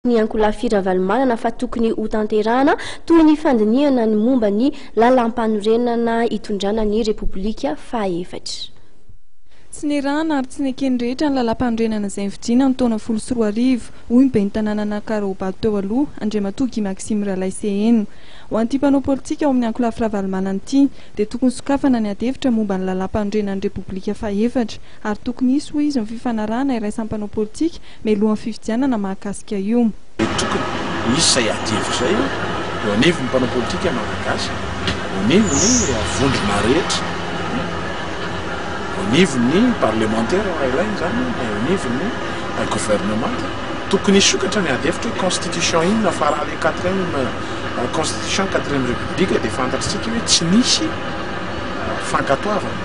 ny Ankolafi Ravalomanana fa tokony hotanterahana toy ny fandinihana ny momba ny lalampanorenana hitondrana ny Repoblika fahaefatra. Tsy nirahana ary tsy neken'ny rehetra ny lalampanorenana izay nifidiana ny taona folo sy roa arivo, hoy ny ben'ny tanànan'Ankarahobado teo aloha, Andriamatoa Guy Maxime Ralaiseheno. Ho an'ity mpanao politika ao amin'ny Ankolafy Ravalomanana ity dia tokony sokafana ny adihevitra momba ny lalampanorenan'ny Repoblika fahaefatra ary tokony hisy, hoy izy, ny fifanarahana iraisam-panao politika mialohan'ny fifidianana mahakasika io. Mety tokony hisy izay adihevitra izay eo anivon'ny mpanao politika malagasy, eo anivon'ny vondrona rehetra, eo anivon'ny parlemantera raha ilaina izany na eo anivon'ny governemanta. Tokony hisokatra ny adihevitra hoe constitution inona fa raha ilay quatrième constitution, quatrième république dia fantatrtsika hoe tsy nisy fankatoavana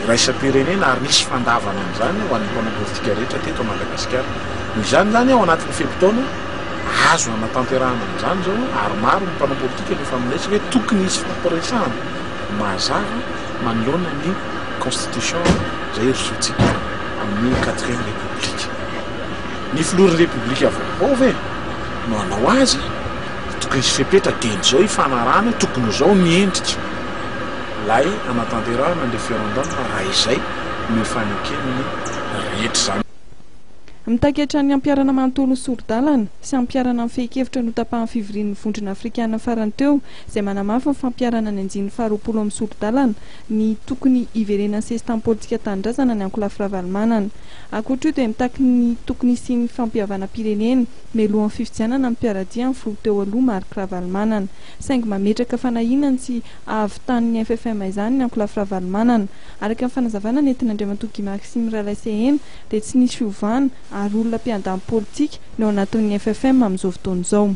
iraisam-pirenena ary nisy fandavana an'izany ho an'ny mpanao politika. sigaretra teto Madagasikara. Noho izany izany ao anatin'ny fe-potoana azo hanatanterahana an'izany izao ary maro ny mpanao politika no efa milaisa hoe tokony hisy fampiresahana mazava manoloana ny constitution izay hirosoantsika amin'ny quatrième république. Ny filohan'ny repoblika vaovao ve no hanao azy? Tokony hisy fepetra dieny izao hifanarahana hoe tokony ho izao ny endrika ilay hanatanterahana ny referendum raha izay no efa neken'ny rehetra izany. Mitaky hatrany hampiharana manontolo ny sori-dalana sy hampiharana ny fehin-kevitra notapahan'ny fivorian'ny Vondrona Afrikana farany teo izay manamafy ny fampiharana ny anjin'ny faharoapolo amin'ny sori-dalana ny tokony hiverenan'ny sesitany politika tanindrazana ny ankolafy Ravalomanana. Ankoatr'io dia mitaky ny tokony hisian'ny fampihavanam-pirenena mialohan'ny fifidianana ny mpiara-dia amin'ny filoha teo aloha Marc Ravalomanana saingy mametraka fanahiana ny tsy hahavitan'ny FFM izany ny ankolafy Ravalomanana Araka ny fanazavana nentin'Andriamatoa Guy Maxime Ralaiseheno dia tsy nisy fiovana ary olona mpiandany politika no ao anatin'ny FFM amin'izao fotoana izao.